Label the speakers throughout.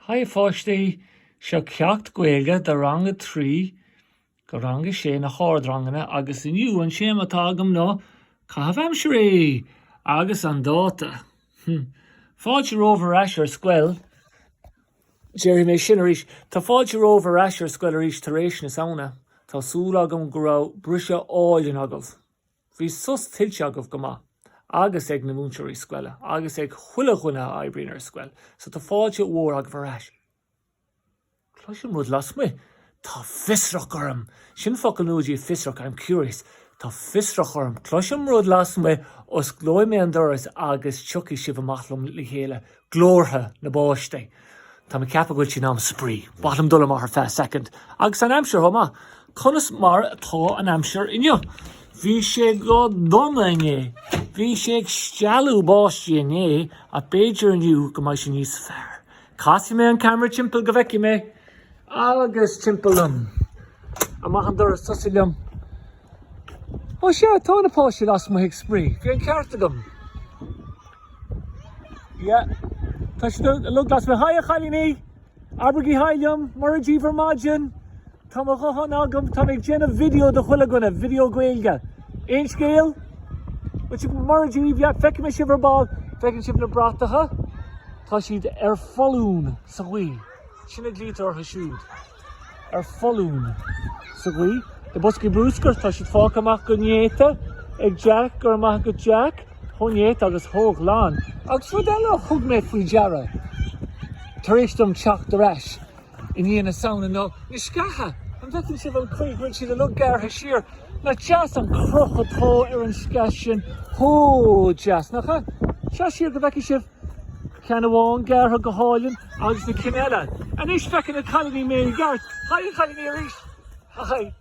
Speaker 1: Haigh a pháistí, seo ceacht Gaeilge do rang a trí go rang a sé na hardranganna agus inniu an téama atá agam ná Caitheamh Aimsire! Agus an dáta! Fáilte romhaibh ar ais ar scoil! Déarfaidh mé sin arís, tá fáilte romhaibh ar ais ar scoil arís tar éis na Samhna. Tá súil agam go raibh briseadh álainn agaibh. Bhí sos tuillte agaibh go maith, agus ag na múinteoirí scoile, agus ag chuile dhuine a oibríonn ar scoil, so tá fáilte mhór romhaibh ar ais. Cloisim rud lasmuigh. Tá fiosrach orm! Sin focal nua daoibh fiosrach, I'm curious. Tá fiosrach orm. Cloisim rud lasmuigh, osclóidh mé an doras agus tiocfaidh sibh amach liom le chéile. Glórtha na bpáistí. Táim ag ceapadh go bhfuil sé in am spraoi. Ba mhaith liom dul amach ar feadh soicind. Agus an aimsir chomh maith. Conas mar atá an aimsir inniu? Bhí sé go dona inné. Bhí sé ag stealladh báistí inné ach b'fhéidir inniu go mbeidh sé níos fearr. Casfaidh mé an camera timpeall go bhfeicfidh mé agus timpeall liom. Amach an doras tosaigh liom. Ó sea, tá na páistí lasmuigh ag spraoi. Bhí an ceart agam. Yeah. Tá siad uilig lasmuigh. Haigh a chailíní! Abraigí haigh liom, Mora daoibh ar maidin! Tá mo ghuthán agam, táim ag déanamh video do chuile dhuine, video Gaeilge. Aon scéal? Bhuel, sibh go mairfidh sibh, yeah, feicfidh sibh ar ball, feicfidh sibh na bratacha, tá siad ar foluain sa ghaoth. Sin a ghlaoitear orthu siúd. Ar foluain sa ghaoth. Na boscaí bruscair, tá siad fágtha amach go néata, ag Jack, go raibh maith agat Jack, chomh néata agus chomh glan. Agus rud eile a thug mé faoi deara, tar éis dom teacht ar ais, I ndiaidh na Samhna ná na sceacha, an bhfeiceann sibh an chaoi go bhfuil siad uilig gearrtha siar? Nach deas an cruth atá ar an sceach sin? An-deas, nach ea? Seo siar go bhfeicfidh sibh ceann amháin gearrtha go hálainn agus na cinn eile. Anois feiceann na cailíní mé i gceart. Haigh a chailíní arís! Haigh!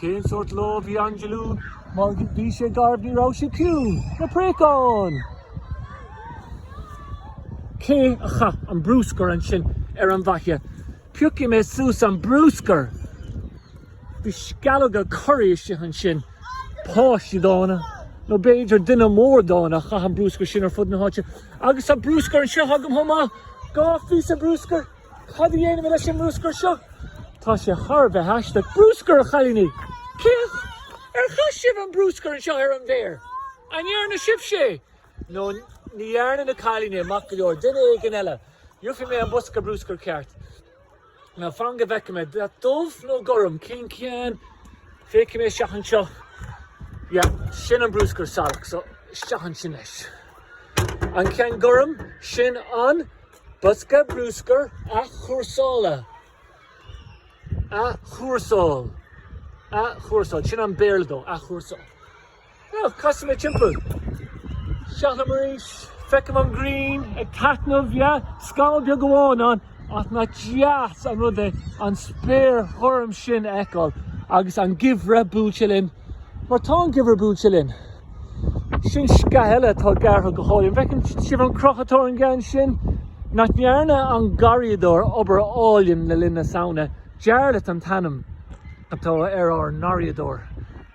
Speaker 1: Cén sórt lá a bhí inné lú mar bhí sé garbh ní raibh sé ciúin? Na préacháin! Cé a chaith an bruscar ansin ar an bhfaiche? Piocfaidh mé suas an bruscar! Bhí sceallóga curry istigh ansin. Páistí dána, nó b'fhéidir duine mór dána a chaith an bruscar sin ar fud na háite. Agus tá bruscar anseo agam chomh maith! Dhá phíosa bruscair! Cad a dhéanfaimid leis an mbrúscar seo? Tá sé thar a bheith aisteach. Brúscar, a chailíní! Féach! Ar chaith sibh an brúscar anseo ar an bhféar? An ndearna sibhse é? Nó ní dhearna na cailíní é, maith go leor, duine éigin eile. Gheofaidh mé an bosca brúscair ceart. Now fan go bhfeice mé. Dath dubh nó gorm? Cén ceann? Féachfaidh mé isteach anseo. Yeah, sin an brúscar salach so isteach ansin leis. An ceann gorm, sin an. Bosca brúscair athchúrsála, athchúrsáil, athchúrsáil, sin an Béarla dó, athchúrsáil. Now, casfaidh mé timpeall. Isteach liom arís, feicim an ghrian ag taitneamh, yeah, scamall beag amháin ann, ach nach deas an rud é an spéir ghorm sin a fheiceáil agus an geimhreadh buailte linn. Mar tá an geimhreadh buailte linn. Sin sceach eile atá gearrtha go hálainn. An bhfeiceann sibh an cruth atá ar an gceann sin? Nach ndearna an garraíodóir obair álainn le linn na Samhna? Jarlath an t-ainm atá ar ár ngarraíodóir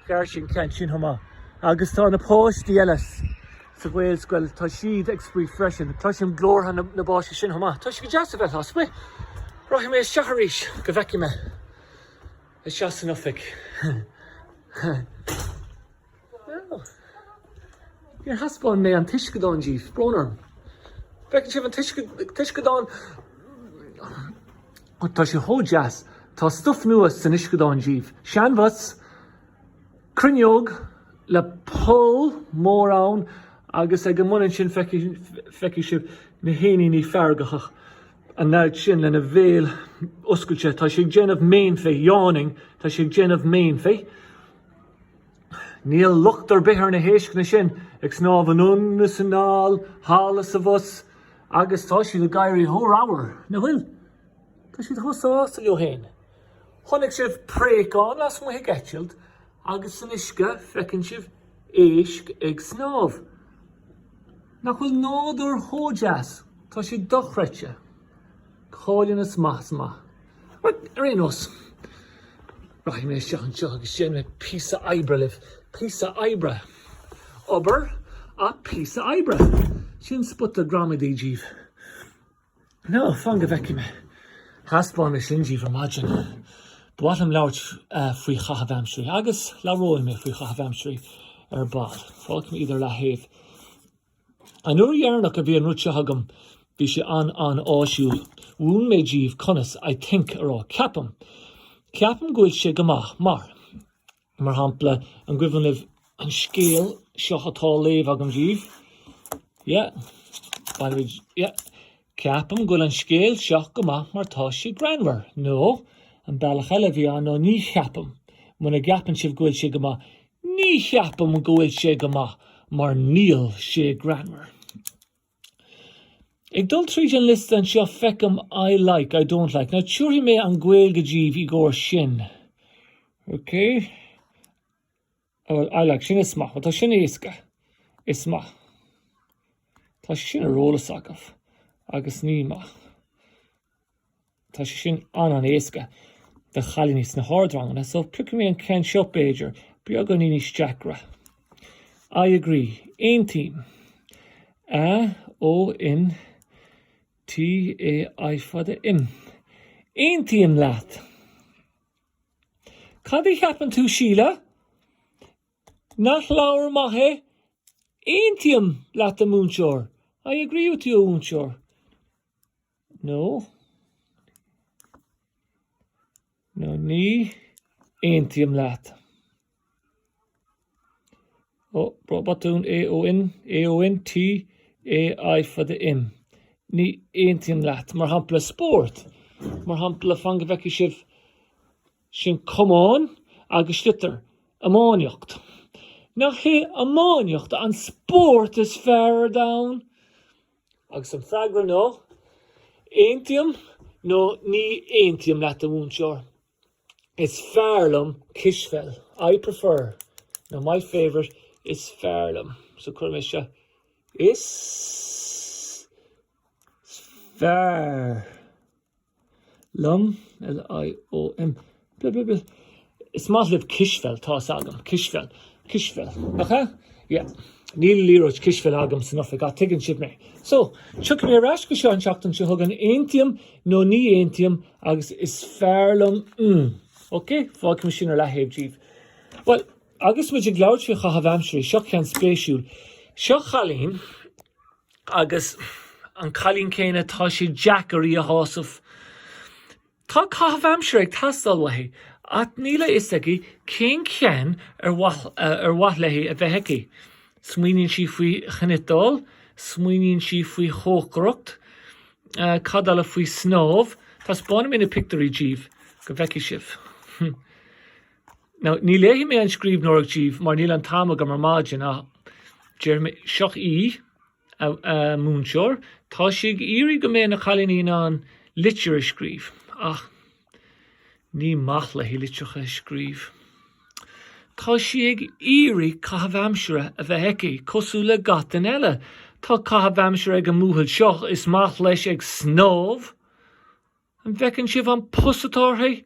Speaker 1: Ghearr sé an ceann sin chomh maith. Agus tá na páistí eile sa Ghaelscoil, tá siad ag spraoi freisin. Cloisim glórtha na bpáistí sin chomh maith. Tá sé go deas a bheith ag spraoi. Rachaidh mé isteach arís go bhfeicfidh mé. Isteach san oifig. Bhuel. Níor thaispeáin mé an t-uisceadán daoibh. Brón orm. An bhfeiceann sibh an t-uisceadán? Tá sé chomh deas. Tá stuif nua san uisceadán daoibh. Seanbhus, cruinneog le poll mór ann agus ag an mbun ansin feicfidh sibh na héiníní feargacha. an leaid sin lena bhéal oscailte. Tá sé ag déanamh méanfaí, yawning, tá sé ag déanamh méanfaí. Níl locht ar bith ar na héisceanna sin, ag snámh anonn is anall, thall is abhus, agus tá siad ag éirí chomh ramhar, nach bhfuil? Tá siad chomh sásta leo féin. Chonaic sibh préachán lasmuigh ag eitilt? Agus san uisce, feiceann sibh éisc ag snámh. Nach bhfuil nádúr chomh deas? Tá sé dochreidte. Go hálainn amach is amach. Ar aon nós, rachaidh mé isteach anseo agus déanfaidh mé píosa oibre libh. Píosa oibre. Obair ach píosa oibre. Sin spota gramadaí daoibh. Now, fan go bhfeicfidh mé. Thaispeáin mé sin daoibh ar maidin. Ba mhaith liom labhairt faoi chaitheamh aimsirí agus labhróidh mé faoi chaitheamh aimsirí ar ball. Fágfaidh mé iad ar leathaobh. An uair dheireanach a bhí an rud seo agam bhí sé an-an-áisiúil. Mhúin mé daoibh conas I think a rá, ceapaim. Ceapaim go bhfuil sé go maith mar. Mar shampla, an gcuimhin libh an scéal seo atá á léamh agam díbh? Yeah. Bainimid, yeah. Ceapaim go bhfuil an scéal seo go maith mar tá sé greannmhar. Nó, an bealach eile a bhí ann, no, ní cheapaim. Muna gceapann sibh go bhfuil sé go maith, ní cheapaim go bhfuil sé go maith mar níl sé greannmhar. Ag dul tríd an liosta anseo feicim I like, I don't like. Now tiúrfaidh mé an Gaeilge díbh í gcomhair sin. Ok? Bhuel, I like, sin is maith. Bhuel, tá sin éasca. Is maith. Tá sin ar eolas agaibh. Agus ní maith. Tá sé sin an-an-éasca do chailíní sna hardranganna, so piocfaidh mé an ceann seo b'fhéidir, beagáinín níos deacra. I agree. Aontaím. A O N T A Í fada M. Aontaím leat. Cad a cheapann tú Síle? Nach leabhar maith é? Aontaím leat a mhúinteoir. I agree with you a mhúinteoir. nó nó ní aontaím leat. Ó, botún A O N, A O N, T, A, Í fada M. Ní aontaím leat. Mar shampla, spórt. Mar shampla, fan go bhfeicfidh sibh sin camán agus sliotar, iománaíocht. Nach í iománaíocht an spórt is fearr ar domhan? Agus an freagra ná, Aontaím nó ní aontaím leat a mhúinteoir. Is fearr liom cispheil. I prefer, nó my favourite is fearr liom. So cuirfidh mise, Is fearr. liom, L I O M, bl bl bl Is maith libh cispheil, tá's agam, cispheil, cispheil, nach ea? Yeah. Níl liathróid cispheil agam san oifig ach tuigeann sibh mé. So, tiocfaidh mé ar ais go seo an tseachtain seo chugainn, aontaím nó ní aontaím agus is fearr liom mm. Ok, fágfaidh mé sin ar leathaobh díbh. Well, agus muid ag labhairt faoi chaitheamh aimsire, seo ceann spéisiúil. Seo cailín Agus an cailín céanna, tá sé deacair í a shásamh. Tá caitheamh aimsire ag teastáil uaithi, ach níl a fhios aici cén ceann ar mhaith léi a bheith aici. Smaoiníonn sí faoi chniotáil, smaoiníonn sí faoi chócaireacht, cad eile, faoi snámh, taispeánfaidh mé na pictiúirí díbh go bhfeicfidh sibh. Now, ní léifidh mé an scríbhneoireacht díbh mar níl an t-am agam ar maidin ach déarfaidh mé seo í, a, a múinteoir, tá sí ag iarraidh go mbeidh na cailíní in ann litir a scríobh ach ní maith léi litreacha a scríobh. Tá sí ag iarraidh caitheamh aimsire a bheith aici, cosúil le gach duine eile. Tá caitheamh aimsire ag an mbuachaill seo, is maith leis ag snámh, An bhfeiceann sibh an pus atá uirthi?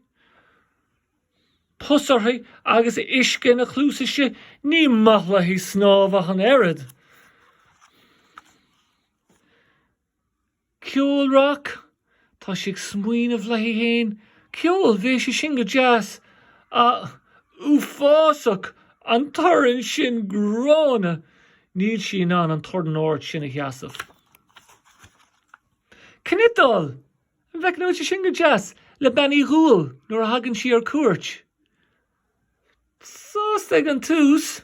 Speaker 1: Pus uirthi agus uisce ina cluas istigh? Ní maith léi snámh ach an oiread. Ceol rac? Tá sí ag smaoineamh léi féin. Ceol, bhí sé sin go deas. Ach, uafásach! An torann sin gránna! Níl sí in ann an torann ard sin a sheasamh. Cniotáil! An mbeadh sé sin go deas le Bean Uí Dhúill nuair a thagann sí ar cuairt? Sásta ag an tús,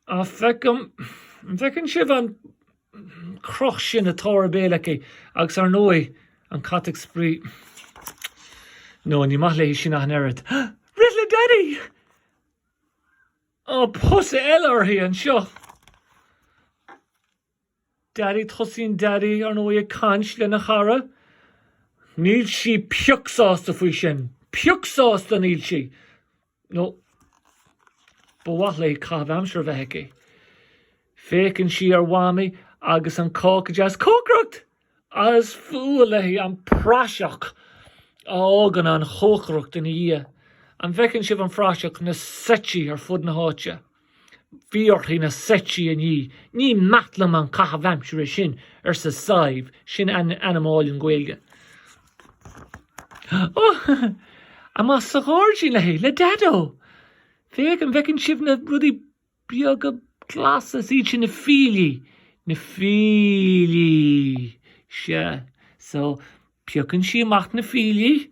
Speaker 1: ach feicim, an bhfeiceann sibh an cruth sin atá ar a béal aici agus ar ndóigh an cat ag spraoi. No, ní maith léi sin ach an oiread. Rith le Daddy! Ó, pus eile uirthi anseo! Daddy, tosaíonn Daddy, ar ndóigh, ag caint lena chara. Níl sí pioc sásta faoi sin. Pioc sásta níl sí! No, ba mhaith léi caitheamh aimsire a bheith aici. Féachann sí ar Mhamaí agus an cáca deas, cócaireacht! Is fuath léi an praiseach a fhágann an chócaireacht ina dhiaidh. An bhfeiceann sibh an phraiseach, na seití ar fud na háite. Bhí uirthi na seití a ní. Ní maith liom an caitheamh aimsire sin, arsa Sadhbh, sin ainm álainn Gaeilge. Ó! Amach sa ghairdín léi, le Daideo! Féach, an bhfeiceann sibh na rudaí beaga glasa, is iad sin na fiailí, na fiailí, sea. So, piocann sí amach na fiailí.